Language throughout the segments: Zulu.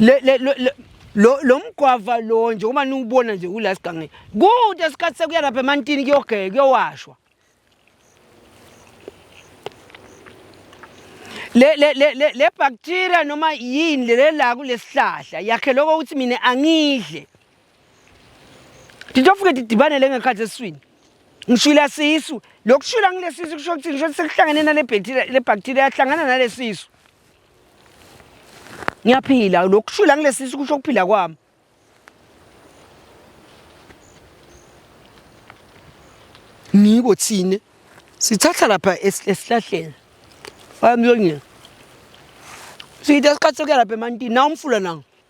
le le lo lo mgwava lo nje uma niwubona nje kula sigange kude isikhathi sekuya lapha emantini kuyogeka kuyowashwa le le le le le bacteria noma yini le la kulesihlahla yakhe lokho ukuthi mina angidle nditofike ndidibanele ngekhathi esiswini ngishwila sisu lokushwila ngilesisu kusho ukuthi ngisho sekuhlangene nale bacteria le bacteria yahlangana nale sisu ngiyaphila lokushwila ngilesisu kusho ukuphila kwami ngiko thina sithatha lapha esihlahleni wayamyonyela siyithe isikhathi sokuya lapha emantini na umfula nanga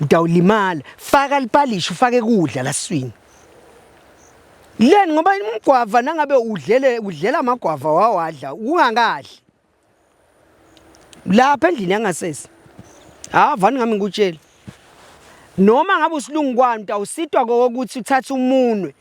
Udawulimala, faka lipalishi ufake kudla laswini. Leni ngoba umgwava nangabe udlele udlela amagwava wawadla ungakadli. Lapha endlini yangasese. Ha vani ngami ngikutshela. Noma ngabe usilungu kwani awusitwa kokuthi uthathe umunwe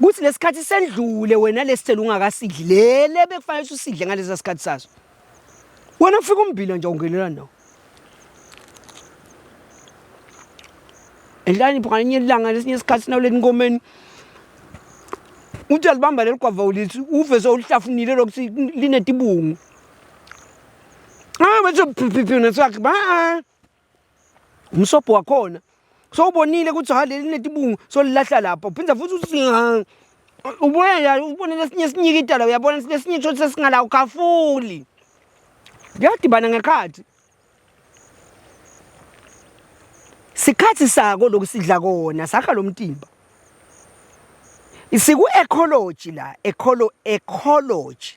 kuthi lesikhathi sendlule wena lesithelo ungakasidli lele bekufanele usidle ngalesa sikhathi saso wena kufika umbila nje ungenela nawo enhlanipho ngalinye ilanga lesinye isikhathi sinawuleni inkomeni uthi alibamba leli gwava ulithi uve sewulihlafunile lokuthi linetibungu ah bese phiphiphina sakhe ba umsobho wakhona so ubonile ukuthi ha leli netibungu so lilahla lapha uphinde futhi usinga ubuye la ubone lesinye sinyike idala uyabona lesinye kusho ukuthi sesingala ukhafuli kuyadibana ngekhathi sikhathi sako lokhu sidla kona sakha lo mtimba isiku ecology la ecolo ecology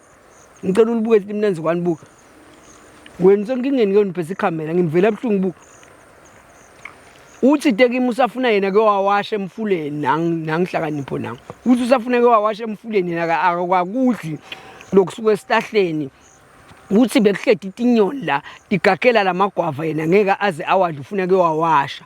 Ngicela ulibuke lithi mnenzi kwani buka. Wena usenkingeni ke niphethe ikhamera ngimvela ebuhlungu buka. Uthi tekimi usafuna yena ke wawasha emfuleni nangihlakanipho nangu. Uthi usafuna ke wawasha emfuleni yena akakudli lokusuka esihlahleni. Uthi bekuhledi itinyoni la igagela lamagwava yena ngeke aze awadla ufuna ke wawasha.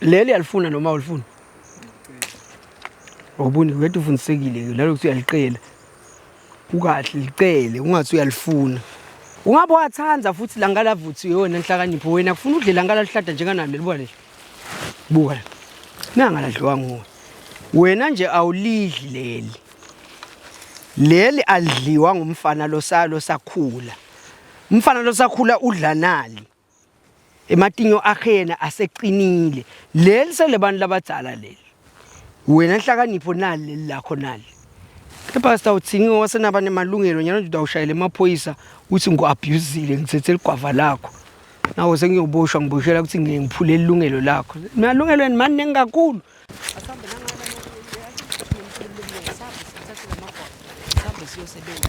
leli yalifuna noma ulifuna awuboni wethu ufundisekile ke lelo ukuthi uyaliqela ukahle licele ungathi uyalifuna ungabe wathanda futhi la ngalavuthi yona nhlakanipho wena kufuna udle la ngalaluhlada njenganami libuka le buka la nangaladliwa nguwe wena nje awulidli leli leli alidliwa ngumfana losalo sakhula umfana losakhula udla nali ematinyo akhe yena aseqinile leli selebantu labadzala leli wena nhlakanipho nali leli lakho nali kepha sitawuthini wasenaba nemalungelo nyalo nje utawushayela emaphoyisa uthi ngu-abhuzile ngithethe ligwava lakho nawo sengiyoboshwa ngiboshela ukuthi ngike ngiphule ilungelo lakho malungelo eni mani ningi kakhulu siyosebenza